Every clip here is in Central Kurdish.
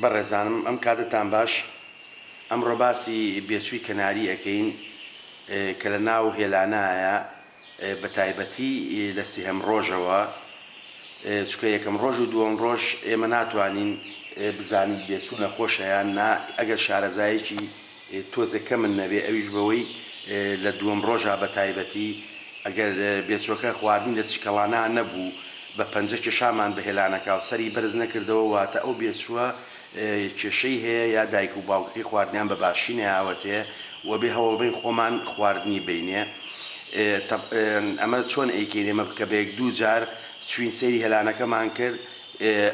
بەڕێزانم ئەم کاتەتان باش ئەمڕۆ باسی بێچووی کەناری ئەکەین کە لە ناو هێلانایە بە تایبەتی لە سهەم ڕۆژەوە چکە یەکەم ڕۆژ و دووەم ڕۆژ ئێمە ناتوانین بزانیت بێچوو نەخۆشە یان نا ئەگەر شارەزایەکی تۆزێک کەمن نەبێ ئەویش بەوەی لە دووەم ڕۆژا بەتایبەتی ئەگەر بێچۆکە خواردنی لە چکەڵانا نەبوو بە پەنجە کێشامان بە هێلانەکا و سەری بەرز نەکردەوە واتە ئەو بێچووە کێشەی هەیە یا دایک و باوکەکەی خواردنیان بە باشی نەیاوەتێ و بێ هەوڵبین خۆمان خواردنی بینێ ئەمە چۆن ئەیکەین ئێمە بکە بە یەک دوو جار چوین سەیری هێلانەکەمان کرد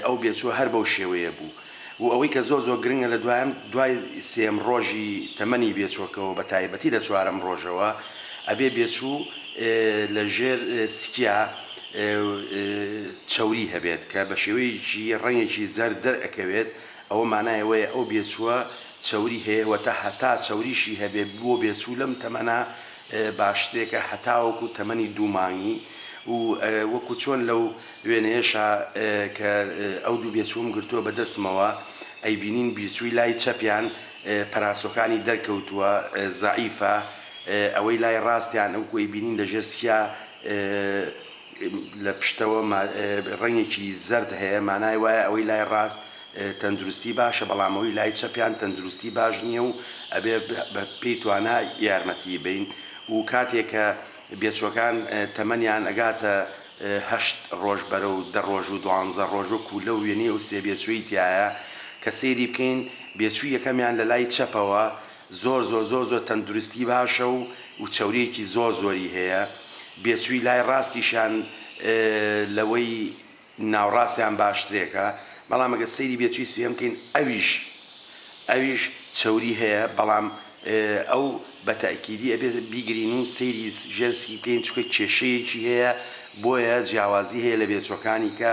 ئەو بێچووە هەر بەو شێوەیە بوو و ئەوەی کە زۆر زۆر گرنگە لە دوایەم دوای سێیەم ڕۆژی تەمەنی بێچۆکەوە بە تایبەتی لە چوارەم ڕۆژەوە ئەبێ بێچوو لە ژێر سکیا چەوری هەبێت کە بە شێوەیەکی ڕەنگێکی زەرد دەرئەکەوێت ئەوە مانای ئەوەیە ئەو بێچووە چەوری هەیە وەتا هەتا چەوریشی هەبێ بۆ بێچوو لەم تەمەنە با شتێکە هەتاوەکو تەمەنی دوو مانگی و وەکو چۆن لەو وێنەیەشا کە ئەو دوو بێچووم گرتووە بە دەستمەوە ئەیبینین بیرچووی لای چەپیان پەراسۆکانی دەرکەوتووە زەعیفە ئەوەی لای ڕاستیان وەکو ئەیبینین لە ژێر سیا لە پشتەوە ڕەنگێکی زەرد هەیە مانای وایە ئەوەی لای ڕاست تەندروستی باشە بەڵام ئەوی لای چەپیان تەندروستی باش نیە و ئەبێ بە پێی توانا یارمەتیی بەین و کاتێ کە بێچوەکان تەمەنیان ئەگاتە هەشت ڕۆژ بەرەو دە ڕۆژ و دوانزە ڕۆژ وەکو لەو وێنەی ئەو سێ بێچوەی تیایە کە سەیری بکەین بێچوی یەکەمیان لە لای چەپەوە زۆر زۆر زۆر زۆر تەندروستی باشە و و چەوریەکی زۆر زۆری هەیە بێچوی لای ڕاستیشیان لەوەی ناوڕاستیان باشترێکە بەڵام ئەگەر سەیری بێچوی سێیەم بکەین ئەویش ئەویش چەوری هەیە بەڵام ئەو بە تەئکیدی ئەبێت بیگرین و سەیری ژێر سکی بکەین چونکە کێشەیەکی هەیە بۆیە جیاوازی هەیە لە بێچوەکانی کە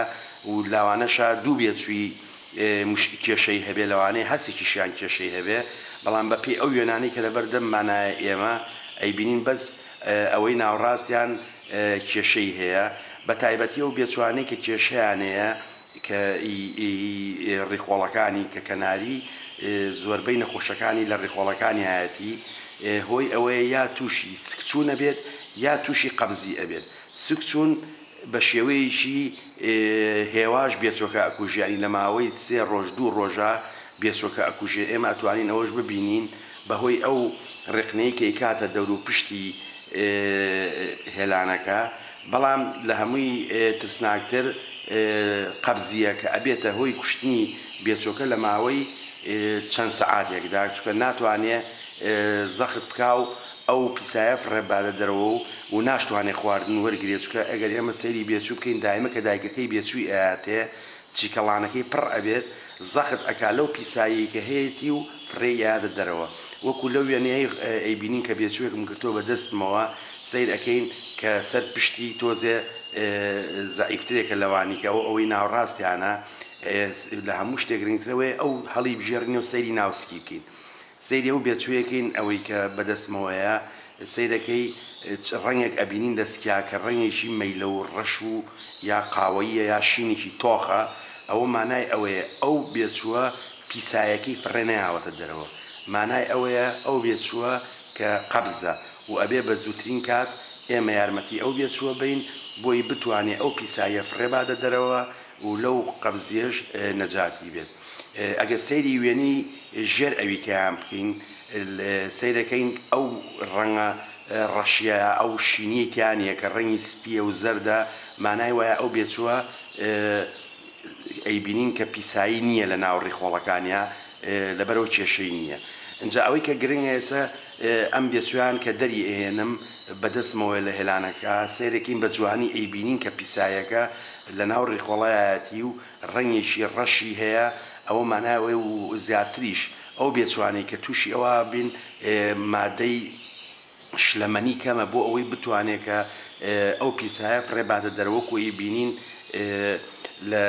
و لاوانەشە دوو بێچوی مش کێشەی هەبێ لەوانەیە هەرسێکیشیان کێشەی هەبێ بەڵام بە پێی ئەو وێنانەی کە لەبەر دەممانایە ئێمە ئەیبینین بەس ئەوەی ناوڕاستیان کێشەی هەیە بە تایبەتی ئەو بێچوانەی کە کێشەیانەیە کە ی ڕیخۆڵەکانی کە کەناری زۆربەی نەخۆشەکانی لە ڕیخۆڵەکانیایەتی هۆی ئەوەیە یا توشی سکچون ئەبێت یا توشی قەبزی ئەبێت سکچون بە شێوەیەکی هێواش بێچۆکە ئەکوژێ یانی لە ماوەی سێ ڕۆژ دوو ڕۆژە بێچۆکە ئەکوژێ ئێمە ئەتوانین ئەوەش ببینین بەهۆی ئەو ڕێقنەی کەیکاتە دەوروپشتی هێلانەکە، بەڵام لە هەمووی ترسناکتر قەبزییە کە ئەبێتە هۆی کوشتنی بێچۆکە لە ماوەی چەند سەعاتێکدا چونکە ناتوانێ زەخت بکا و ئەو پیسایە فڕێبباتە دەرەوە و و ناشتوانێ خواردن وەرگرێ چونکە ئەگەر ئێمە سەیری بێچوو بکەین دایمە کە دایکەکەی بێچووی ئەیاتێ چیکەڵانەکەی پڕ ئەبێت زەخت ئەکا لەو پیساییەی کە هەیەتی و فڕێی ئەیاتە دەرەوە وەکو لەو وێنەیەی ئەیبینین کە بێچووێکم گرتووە بە دەستمەوە سەیر ئەکەین کە سەر پشتی تۆزێ زەعیفترێکە لەوانی کە ئەو ئەوەی ناوڕاستیانە لە هەموو شتێک گرنگترەوەی ئەو هەڵیبژێرینەوە سەیری ناو سکی بکەین سەیری ئەو بێچوویە کەین ئەوەی کە بەدەستمەوەیە سەیرەکەی چ ڕەنگێک ئەبینین دەسکیا کە ڕەنگێکی مەیلەو ڕەش و یا قاوەییە یا شینێکی تۆخە ئەوە مانای ئەوەیە ئەو بێچووە پیسایەکەی فڕێ نەیاوەتە دەرەوە مانای ئەوەیە ئەو بێچووە کە قەبزە و ئەبێ بە زووترین کات ئێمە یارمەتی ئەو بێچووە بەین بۆی بتوانێ ئەو پیساییە فڕێ بادە دەرەوە و لەو قەبزیەش نەجاتی بێت ئەگەر سەیری وێنەی ژێر ئەویکەیان بکەین سەیرەکەین ئەو ڕەنگە ڕەشیە ئەو شینیەی تیا نیە کە ڕەنگی سپیە و زەردە مانای وایە ئەو بێچوە ئەیبینین کە پیسایی نیە لە ناو ڕیخۆڵەکانیا لەبەرئەوە کێشەی نیە ئینجا ئەوەی کە گرنگە ئێسە ئەم بێچوەیان کە دەری ئەهێنم بە دەستمەوە لە هێلانەکە سەیرەکەین بە جوانی ئەیبینین کە پیسایەکە لەناو ڕیخۆڵایەتی و ڕەنگێکی ڕەشی هەیە ئەوە مانای ئەوەی و زیاتریش ئەو بێچوانەی کە تووشی ئەوە بین مادەی شلەمەنی کەمە بۆ ئەوەی بتوانێ کە ئەو پیسایە فڕێ باتە دەرەوە وەکو ئی بینین لە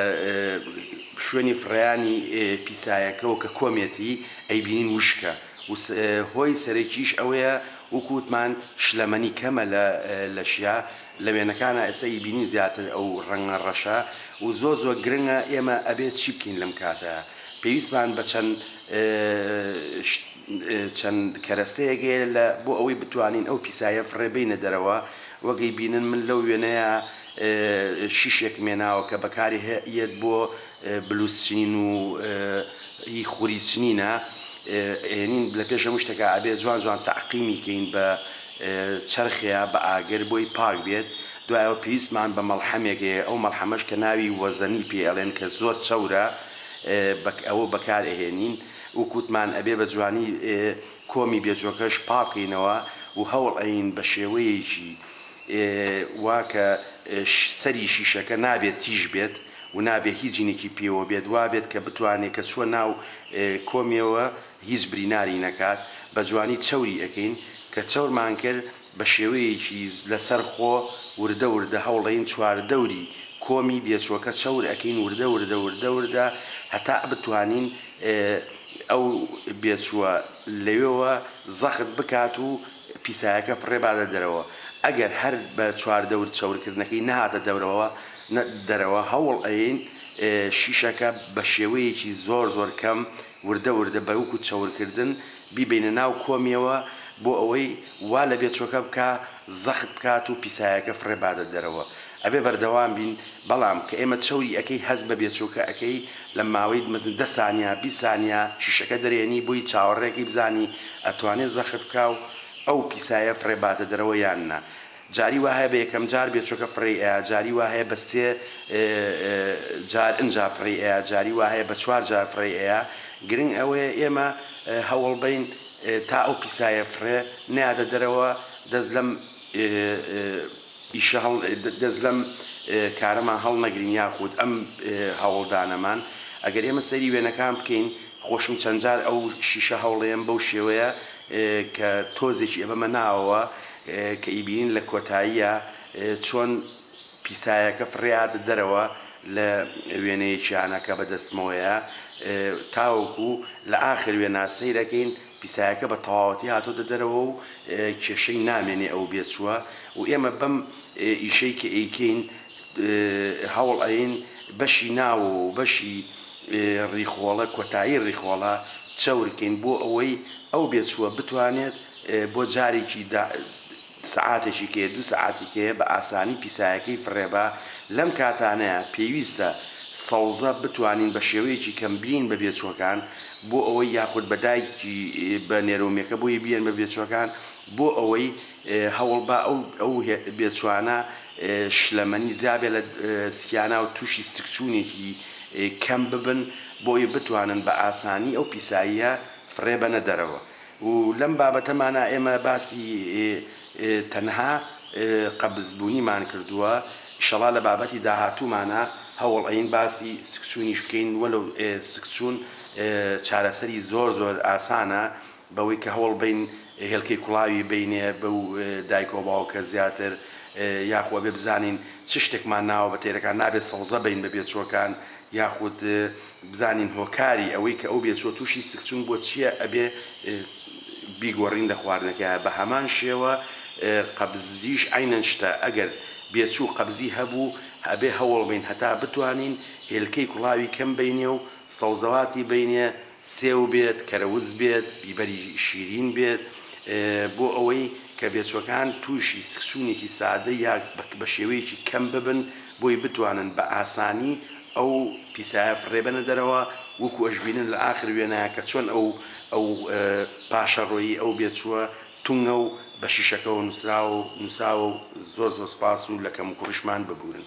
شوێنی فڕێیانی پیسایەکەوە کە کۆمێتی ئەی بینین وشکە و هۆی سەرەکیش ئەوەیە وەکو وتمان شلەمەنی کەمە لە لەشیا لە وێنەکانا ئێستا ئیبینین زیاتر ئەو ڕەنگە ڕەشە و زۆر زۆر گرنگە ئێمە ئەبێ چی بکەین لەم کاتە پێویستمان بە چەند چەند کەرەستەیەک هەیە لە بۆ ئەوەی بتوانین ئەو پیسایە فڕێ بینە دەرەوە وەک ئیبینن من لەو وێنەیا شیشێکم هێناوە کە بەکاری یەت بۆ بلوز چنین و ی خوری چنینە ئێنین لە پێش هەموو شتەکە ئەبێ جوان جوان تەعقیمی کەین بە چەرخێ بە ئاگر بۆی پاک بێت دوای ئەوە پێویستمان بە مەڵحەمێک هەیە ئەو مەڵحەمەش کە ناوی وەزەنی پێی ئەڵێن کە زۆر چەورە بە ئەوە بەکار ئەهێنین وەک وتمان ئەبێ بە جوانی کۆمی بێجۆکەش پاک بکەینەوە و هەوڵ ئەیین بە شێوەیەکی وا کە سەری شیشەکە نابێت تیژ بێت و نابێ هیچ جنێکی پێوە بێت وا بێت کە بتوانێ کە چووە ناو کۆمیەوە هیچ بریناری نەکات بە جوانی چەوری ئەکەین کە چەورمان کرد بە شێوەیەکی لە سەر خۆ وردە وردە هەوڵەین چوار دەوری کۆمی بێچوەکە چەور ئەکەین وردە وردە وردە وردە هەتا بتوانین ئەو بێچوە لەوێوە زەخت بکات و پیسایەکە پڕێ بادە دەرەوە ئەگەر هەر بە چوار دەور چەور کردنەکەی نەهاتە دەرەوە دەرەوە هەوڵ ئەیەین شیشەکە بە شێوەیەکی زۆر زۆر کەم وردە وردە بە وەکو چەورکردن بیبەینە ناو کۆمیەوە بۆ ئەوەی وا لە بێچۆکە بکا زەخت بکات و پیسایەکە فڕێ بادە دەرەوە ئەبێ بەردەوام بین بەڵام کە ئێمە چەوری ئەکەی هەست بە بێچۆکە ئەکەی لە ماوەی مەزن دە سانیا بیست سانیا شیشەکە دەرێنی بۆی چاوەڕێ کەی بزانی ئەتوانێ زەخت بکا و ئەو پیسایە فڕێ بادە دەرەوە یان نا جاری وا هەیە بە یەکەم جار بێ چۆکە فڕێی ئەیا جاری وا هەیە بە سێ جار ئنجا فڕێی ئەیا جاری وا هەیە بە چوار جار فڕێی ئەیا گرنگ ئەوەیە ئێمە هەوڵ بەین تا ئەو پیسایە فڕێ نەیاتە دەرەوە دەست لەم ئیشە هەڵ دەست لەم کارەمان هەڵ نەگرین یاخود ئەم هەوڵدانەمان ئەگەر ئێمە سەیری وێنەکان بکەین خۆشم چەند جار ئەو شیشە هەوڵەیەم بەو شێوەیە کە تۆزێکی ئەبەمە ناوەوە کە ئیبینین لە کۆتاییا چۆن پیسایەکە فڕێهاتە دەرەوە لە وێنەیەکیانە کە بە دەستمەوەیە تاوەکو لە ئاخر وێنا سەیرەکەین پیسایەکە بە تەواوەتی هاتۆتە دەرەوە و کێشەی نامێنێ ئەو بێچووە و ئێمە بەم ئیشەی کە ئەیکەین هەوڵ ئەیەین بەشی ناوەوە و بەشی ڕیخۆڵە کۆتایی ڕیخۆڵە چەور کەین بۆ ئەوەی ئەو بێچووە بتوانێت بۆ جارێکی دا سەعاتێکی کەیە دوو سەعاتی کەیە بە ئاسانی پیسایەکەی فڕێبا، لەم کاتانەیە پێویستە سەوزە بتوانین بە شێوەیەکی کەم بێین بە بێچووەکان بۆ ئەوەی یاخود بە دایکی بە نێرۆمیەکە بۆی بێن بە بێچووەکان بۆ ئەوەی هەوڵبا ئەو بێچووانە شلەمەنی زیابێ لە سکیانا و تووشی سکچوونێکی کەم ببن بۆ ئەوەی بتوانن بە ئاسانی ئەو پیساییە فڕێبەنە دەرەوە. و لەم بابەتەمانا ئێمە باسی تەنها قەبز بونیمان کردوە ئیشەڵا لە بابەتی داهاتومانا هەوڵ ئەین باسی سکچونیش بکەین وەلەو سکچون چارەسەری زۆر زۆر ئاسانە بەوەی کە هەوڵ بەین هێلکەی کوڵاوی بەینێ بەو دایکەو باوکە زیاتر یاخو ئەبێ بزانین چ شتێکمان ناوە بە تێرەکان نابێ سەوزە بەین بە بێچوەکان یاخود بزانین هۆکاری ئەوەی کە ئەو بێچوە توشی سکچون بوە چیە ئەبێ بیگۆرین لە خواردنەکەیا بە هەمان شێوە قەبزیش عەینەن شتە ئەگەر بێچو قەبزی هەبو ئەبێ هەوڵ بەین هەتا بتوانین هێلکەی کوڵاوی کەم بەینێ و سەوزەواتی بەینێ سێو بێت کەرەوز بێت بیبەری شیرین بێت بۆ ئەوەی کە بێچوەکان توشی سکچونێکی سادە یا بە شێوەیەکی کەم ببن بۆی بتوانن بە ئاسانی ئەو پیسایە فڕێ بەنە دەرەوە وەکو ئەشبینن لە ئاخر وێنەیە کە چۆن ئەو ئەو پاشەڕۆیی ئەو بێچووە تونگە و بە شیشەکەوە نوسراوە و نوساوە و زۆر زۆر سپاس و لە کەم و کوڕیشمان ببورن.